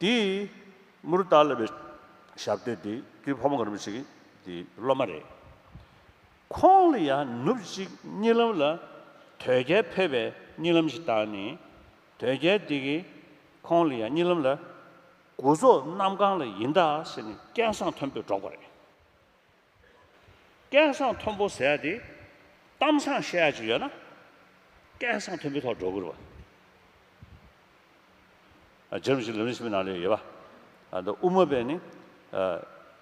དེ་མུར་སྟག་ལ་བའི་ཞབས་སྟེགས་དེ་དུས་ཕོ་མོ་གང་རུང་ཞིག་དེ་སློབ་མ་རེད། ཁོང་ལ་ཡང་ནུབ་གཅིག་གཉིད་ལམ་ལ་དོལ་རྒྱལ་ཕེབས་པའི་གཉིད་ལམ་ཞིག་བཏགས་ནས་དོལ་རྒྱལ་དེ་གིས་ཁོང་ལ་ཡང་གཉིད་ལམ་ལ། དགུ་ཟོག་གནམ་གང་ལ་ཡིན་ད་ཟེར་ནས་སྐད་གསང་མཐོན་པོས་སྒྲོག་པ་རེད། སྐལ་བཟང་མཐོན་པོ་ཟེར་ཡ་དེ། གཏམ་བཟང་བཤད་ཡ་ཅིག་ཡོད་ན། སྐལ་བཟང་མཐོན་པོའི་ཐོག་འགྲོ་དགོས་རེད་པ། རྗེ་རིན་པོ་ཆེ་ལུས་ནི་ཕྱི་མའི་ནང་ལས་ཡོད་པ། འདི་དབུ་མ་པས་ནི།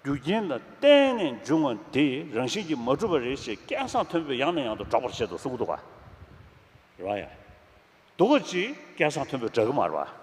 རྒྱུ་རྐྱེན་ལ་བརྟེན་ནས་འབྱུང་བ་འདི་རང་བཞིན་གྱིས་མ་གྲུབ་པ་རེད་ཅེས་སྐལ་བཟང་མཐོན་པོས་ཡང་ནས་ཡང་དུ་སྒྲོག་པར་བྱེད་དུ་གསུངས་འདུག་ག་རང་ཡང། འདུག་ག་ཅིག་སྐལ་བཟང་མཐོན་པོས་སྒྲག་གི་མ་རེད་པ།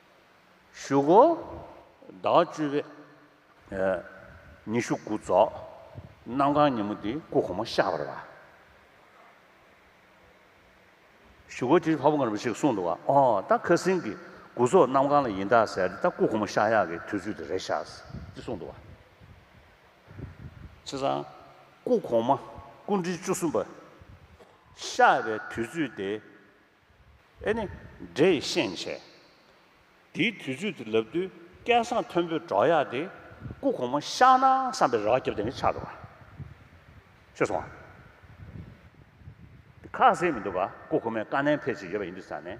བཞུགས། ཟླ་བ་བཅུ་པའི་ཉི་ཤུ་དགུ་རྫོགས། གནམ་གང་ཉིན་མོ་དེའི་སྐུ་གོང་མ་ཤར་བར་ལ། བཞུགས། དེ་བར་བ་ངར་བ་ཞིག་གསུངས་འདུག་བ། ཨོ། ད་ཁ་སིང་གི་དགུ་རྫོགས་གནམ་གང་ལ་ཡིན་ད་ཟེར་ཏེ་ད་སྐུ་གོང་མ་ཤར་ཡག་གི་དུས་ཚོད་དེ་རེད་ཤག། ཅེས་གསུངས་འདུག་བ། ཁྱེད་རང། སྐུ་གོང་མ་སྐུ་འབྲི་བཅུ་གསུམ་པ། ཤར་བའི་དུས་ཚོད་དེ་ཨེ་ནི། འདྲེ་ཡི་ཤན་ཕྱེ། དེའི་དུས་ཚོད་དེ་ལབ་དུས་སྐལ་བཟང་མཐོན་པོའི་འབྲོག་གཡག་དེ་སྐུ་གོང་མ་བཤགས་ན་བསམ་པའི་རག་རྒྱབ་དེ་ནས་ཆགས་འདུག་ག་ཆོད་སོང་ང། དེ་ཁ་ཟས་མི་འདུག་ག་སྐུ་གོང་མའི་བཀའ་ནན་ཕེབས་ཆེད་ཡོད་པ་ཡིན་དུས་ས་ནས།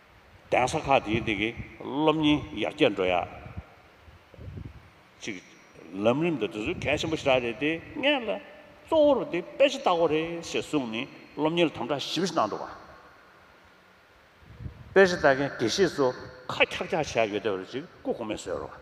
གདན་ས་ཁག་དེའི་སྟེང་གི་སློབ་གཉེར་ཡར་རྒྱས་འགྲོ་ཡག་ཅིག་ལམ་རིམ་དང་འབྲེལ་ཚུལ་གལ་ཆེན་པོ་ཞིག་རེད་དེ་ངས་ལ་གཙོ་བོར་དེ་དཔེ་ཆ་ལྟ་བ་རེད་ཞེས་གསུངས་ནས་སློབ་གཉེར་དམ་དྲག་ཞིབ་གནང་འདུག་དཔེ་ཆ་ལྟ་མཁན་དགེ་བཤེས་ཚོ་ཁ་འཁྱག་འཁྱག་བྱས་ཡོད་སྟབས་རེ་ཅིག་སྐུ་གོང་མས་གསོལ་རོགས།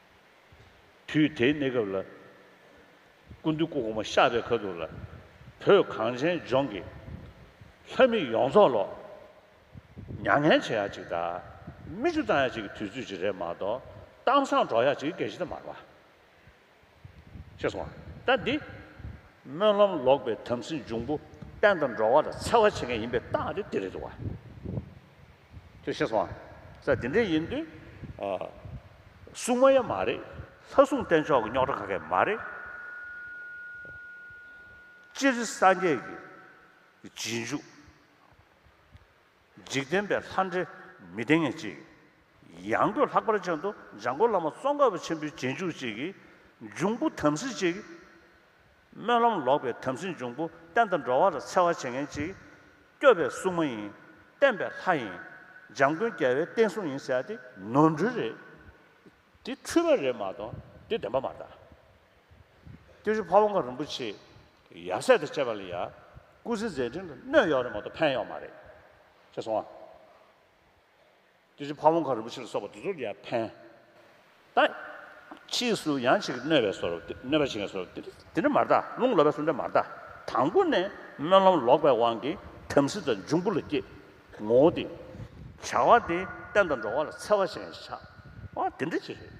དུས་དེའི་གནས་སྐབས་ལ། སྐུ་མདུན་སྐུ་གོང་མ་ཤག་རེ་ཁ་ཐུག་ལ། བོད་གངས་ཅན་ལྗོངས་ཀྱི། ལྷ་མི་ཡོངས་རྫོགས་ལོག། མྱ་ངན་བྱེད་ཡག་ཅིག་དང། མི་ཆུ་བཏང་ཡག་ཅིག་གི་དུས་ཚོད་ཅིག་རེད་མ་གཏོགས། གཏམ་བཟང་སྒྲོག་ཡག་ཅིག་གི་གལ་ཆེ་ད་མ་རེད། ཤེས་སོང་ང་ད་འདི། སྨོན་ལམ་ལོག་པའི་དམ་སྲི་འབྱུང་པོ། བསྟན་དང་འགྲོ་བ་ལ་འཚེ་བ་བྱེད་མཁན་ཡིན་པའི་རྟགས་དེ་དེ་རེད་འདུག་བ། ཅེས་ཤེས་སོང། ས་འདི་འདྲའི་ཡིན་དུས། སྲུང་མ་ཡང་མ་རེད། ལྷ་སྲུང་བསྟེན་ཆོག་གི་རྙོག་གྲ་ག་གེ་མ་རེད། སྤྱིར་སངས་རྒྱས་ཀྱི་རྗེས་འཇུག། འཇིག་རྟེན་པའི་ལྷ་འདྲེ་མི་བསྟེན་ངེས་ཅིག། ཡང་སྒོས་ལྷག་པར་ཅན་དུ་འཇང་དགོན་བླ་མ་ཙོང་ཁ་པ་ཆེན་པོའི་རྗེས་འཇུག་ཅིག་གིས་འབྱུང་པོ་དམ་སྲི་ཅིག། སྨོན་ལམ་ལོག་པའི་དམ་སྲི་འབྱུང་པོ་བསྟན་དང་འགྲོ་བ་ལ་འཚེ་བ་བྱེད་མཁན་གཅིག། སྐྱོབ་པའི་སྲུང་མ་ཡིན། བསྟན་པའི་ལྷ་ཡིན། འཇམ་མགོན་རྒྱལ་བའི་བསྟན་སྲུང་ཡིན་ཟེར་ཡ་དེ་ནོར་འཁྲུལ་རེད། དེ་འཁྲུལ་པ་རེད་མ་གཏོགས་དེ་བདེན་པ་མ་རེད། སྐྱབས་རྗེ་ཕ་བོང་ཁ་རིན་པོ་ཆེ་ཡབ་སྲས་དང་བཅས་པ་ལ་ཡང་སྐུ་ཚེ་མཛད་འཕྲིན་ལ་གནོད་གཡོག་རེད་མ་གཏོགས་ཕན་གཡོག་མ་རེད། ཤེས་སོང་ཨ། དེ་བཞིན་ཕ་བོང་ཁ་རིན་པོ་ཆེ་ལ་སོགས་པ་དེ་ཚོར་ཡང་ཕན། ད་ཕྱིས་སུ་ཡང་ཆེ་གེ་གནོད་པའི་སོར་གནོད་པ་བྱེད་མཁན་སོར་དེ་འདྲ་མ་གཏགས་རླུང་ལོག་པའི་སོར་འདྲ་མ་གཏགས་དང་པོ་ནས་སྨོན་ལམ་ལོག་པའི་དབང་གིས་དམ་སྲི་དང་འབྱུང་པོ་ལ་སྐྱེ། ངོ་བོ་དེ། བྱ་བ་དེ་བསྟན་དང་འགྲོ་བ་ལ་འཚེ་བ་ཞེན་ཆགས་བ་དེ་འདྲ་བྱེད།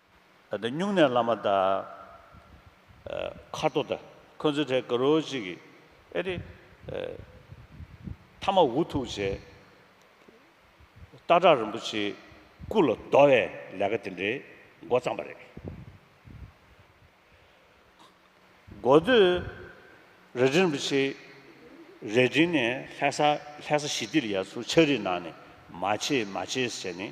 ད་ལྟ་སྨྱུང་གནས་བླ་མ་དང། མཁར་རྡོ་དང་ཁོ་ཚོའི་གྲས་དགའ་རོགས་གཅིག་གིས་ཨེ་རེད། མཐའ་མ་འུ་ཐུག་བྱས། སྟག་བྲག་རིན་པོ་ཆེའི་སྐུ་ལ་བསྡོ་བའི་ལས་ཀ་དེ་འདྲའི་མགོ་བརྩམས་པ་རེད། མགོ་བསྡོས། རལ་གྲི་རིན་པོ་ཆེ་རལ་གྲི་ནས་ལྷས་ས་ལྷས་ས་ཞི་བདེར་ཡར་ཚུར་ཕྱག་རིས་གནང་ནས་མ་བྱེད་མ་བྱེད་ཟེར་ནས།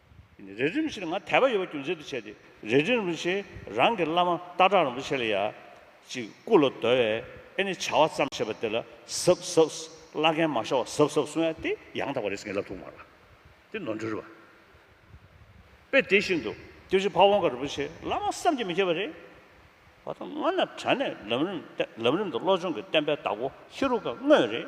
རེ་རིམ་བཞིན་ང་དད་པ་ཡོད་པ་རྒྱུ་མཚན་དུ་བྱས་ཏེ་རེ་རེ་རིན་པོ་ཆེ་རང་གི་བླ་མ་སྟག་བྲག་རིན་པོ་ཆེ་ལ་ཡ། ཅིག་སྐུ་ལ་བསྡོལ་བས་ཨེ་ནི་བྱ་བ་བརྩམས་ཞེས་པ་དེ་ལ་ཟབ་ཟབ། བླ་རྒན་མ་ཤ་བ་ཟབ་ཟབ་གསུང་ཡ་སྟེ་ཡང་དག་པ་རེད་ཟེར་ངེས་ལབ་ཐུག་མ་ལ། དེ་ནོར་འཁྲུལ་རེད་བ། དཔེ་དེ་བཞིན་དུ་དེ་བཞིན་ཕ་བོང་ཁ་རིན་པོ་ཆེ་བླ་མ་བསམ་གྱིས་མི་ཁྱབ་པ་རེད། བ་དང་སྔོན་ན་དྲན་ནས་ལམ་རིམ་ལམ་རིམ་དུ་བློ་སྦྱོང་གི་བསྟན་པའི་བདག་པོ་ཧེ་རུ་ཀ་དངོས་རེད།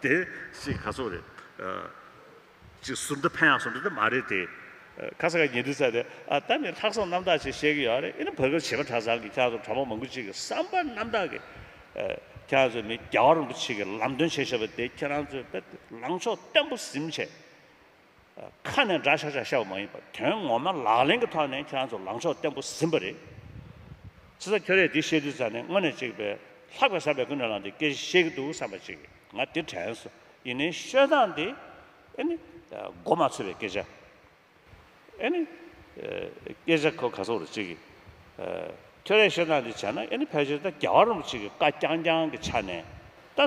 དེ་ཞིག་ག་ཚོད་རེད། ཅིག་ཟུར་འདི་ཕན་ཡང་ཟུར་འདི་དེ་མ་རེད་དེ། ཁ་ས་ག་ཉེ་དུས་ཚ་དེ། ད་ནི་ལྷག་བསམ་རྣམ་དག་ཅིག་བཤད་གི་ཡོད་རེད་ཨེ་ན་བོད་སྐད་བྱེད་པ་གྲྭ་ཚང་གི་ཁྱག་ཚོ་གྲྭ་མང་མང་པོ་ཅིག་གི་བསམ་པ་རྣམ་དག་གི། ཁྱག་ཚོ་ནི་རྒྱ་བ་རིན་པོ་ཆེ་གི་ལམ་སྟོན་བྱེད་ཤེས་པ་དེ་ཁྱེད་རང་ཚོའི་དཔེར་ལངས་ཕྱོགས་བརྟན་པོ་གཟིམ་བྱས། ཁ་ནས་འདྲ་བྱ་བྱ་བྱ་བ་མ་ཡིན་པར་དོན་ངོ་མ་ལག་ལེན་གྱི་ཐོག་ནས་ཁྱེད་རང་ཚོ་ལངས་ཕྱོགས་བརྟན་པོ་ཟིན་པ་རེད། ཚེ་ས་ཁྱོད་རས་འདི་བཤད་དུས་ཚར་ནས་དངོས་ནས་གཅིག་པས་ལྷག་པའི་བསམ་པའི་ཀུན་ནས་ལངས་འདི་སྐད་བཤད་གི་འདུག་བསམ་པ་གཅིག་ང་དེ་དྲན་སོང་ཡིན་ནའི་བཤོད་སྟངས་འདི་ཨེ་ནི་མགོ་མ་ཚོས་པའི་སྐད་ཆ་ཨེ་ནི་སྐད་ཆ་གོ་ག་ཚོར་བ་གཅིག་ཁྱོད་རས་བཤོད་སྟངས་འདི་བྱས་ན་ཨེ་ནི་ཕལ་ཆེར་ད་རྒྱ་བ་རུམ་གཅིག་གི་བཀའ་རྐྱང་རྐྱང་གི་ཆ་ནས་ད།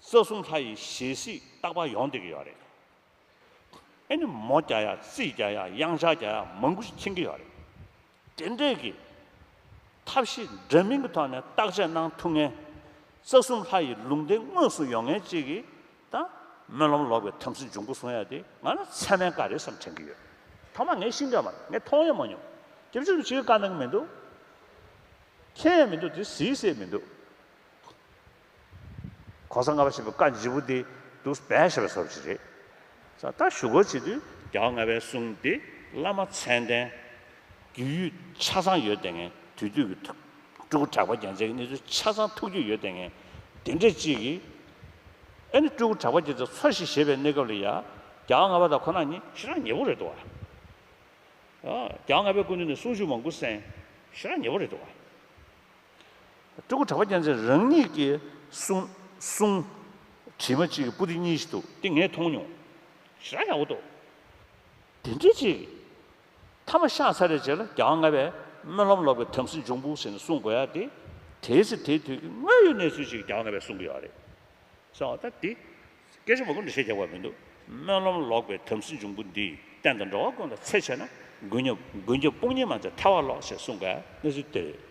རྩ་གསུམ་ལྷ་ཡི་ཞལ་གཟིགས་རྟག་པ་ཡོང་བསྡད་ཀྱི་ཡོད་རེད། ཨེ་ནི་མོ་རྒྱ་ཡག་རྩིས་རྒྱ་ཡག་དབྱངས་ཆ་རྒྱ་ཡག་མང་པོ་ཞིག་མཁྱེན་གྱི་ཡོད་རེད། དེ་འདྲས་ཀྱི་ཐབས་ཤེས་འདྲ་མིན་གྱི་ཐོག་ནས་བརྟག་དཔྱད་གནང་ཐུབ་ངེས། རྩ་གསུམ་ལྷ་ཡི་ལུང་བསྟན་དངོས་སུ་ཡོང་ངེས་བཅས་ཀྱི་དང། སྨོན་ལམ་ལོག་པའི་དམ་སྲི་འབྱུང་ཁུངས་བཟུང་ཡ་དེ་ང་ལ་ཚད་མའི་བཀའ་རེད་བསམ་དྲན་གྱི་ཡོད། ཐོག་མ་ངས་ཤིང་སྒྲ་མ་ངས་མཐོང་ཡང་མ་མྱོང། དེ་བཅུ་ནི་ཕྱིའི་བཀའ་གནང་གི་མི་འདུག། མཁྱེན་ཡང་མི་འདུག་དེ་གཟིགས་སའི་མི་འདུག། གོང་ས་ལྔ་པ་ཞེས་པའི་བཀའ་མཇི་བོ་དེ་འདུག་སྦས་ཞེས་པ་སོགས་ཀྱི་རེད། ས་བརྟག་ཞུ་སྒོ་བྱེད་དུས། རྒྱ་བ་ལྔ་པའི་གསུང་དེ་བླ་མ་མཚན་ལྡན། རྒྱུས་ཡོད་ཆ་ཚང་ཡོད་ལྟས་ངན་དུས་དུས་ཀྱི་ཐུགས། སྤྲུལ་སྐུ་གྲགས་པ་རྒྱན་ཆའི་གནས་ཚུལ་ཆ་ཚང་ཐུགས་རྒྱུས་ཡོད་ལྟས་ངན། དེ་འདྲས་གཅིག་གིས། ཨེ་ནི་སྤྲུལ་སྐུ་གྲགས་པ་རྒྱལ་ཚབ་འཚོ་ཞིག་བཞེས་པའི་གནས་སྐབས་ལ་ཡ། རྒྱ་བ་ལྔ་པ་དང་ཁོ་ན་གཉིས་ཤི་རག་ཉེ་བོ་རེད་འདུག་བ། རྒྱ་བ་ལྔ་པའི་སྐུ་མདུན་ནས་གསུང་ཞུ་མང་པོ་གསན། ཤི་རག་ཉེ་བོ་རེད་འདུག་བ། སྤྲུལ་སྐུ་གྲགས་པ་སྤྱན་འདྲེན་རང་ཉིད་ཀྱིས་གསུངས། བྲིས་མ་གཅིག་གི་པུ་ཏི་གཉིས་ཤིག་འདུག་དེ་ངས་མཐོང་མྱོང། ཞེ་དྲག་ཡག་པོ་འདུག། དེ་འདྲའི་ཅིག། མཐའ་མ་ཤག་ཚ་རེ་བྱས་ལ་གྱ་ལྔ་པའི་སྨོན་ལམ་ལོག་པའི་དམ་སྲི་འབྱུང་པོ་ཟེར་ནས་གསུང་དགོས་ཡ་དེ། དེའི་ཚེ་དེའི་དུས་ཀྱི་དངོས་ཡོད་གནས་ཚུལ་ཅིག་གྱ་ལྔ་པས་གསུང་གི་ཡོད་རེད། བསམ་བ་ད་དེ། སྐད་ཆ་མ་ཀུན་ཏུ་བཤད་རྒྱག་པ་མི་འདུག་སྨོན་ལམ་ལོག་པའི་དམ་སྲི་འབྱུང་པོ་འདིས་བསྟན་དང་འགྲོ་བ་ཀུན་ལ་འཚེ་བྱས་ན་མགོན་སྐྱབས་དཔུང་གཉེན་མ་ཚད་ཐལ་བ་ལོག་ཞེས་གསུང་དགའི་གནས་ཚུལ་དེ་རེད།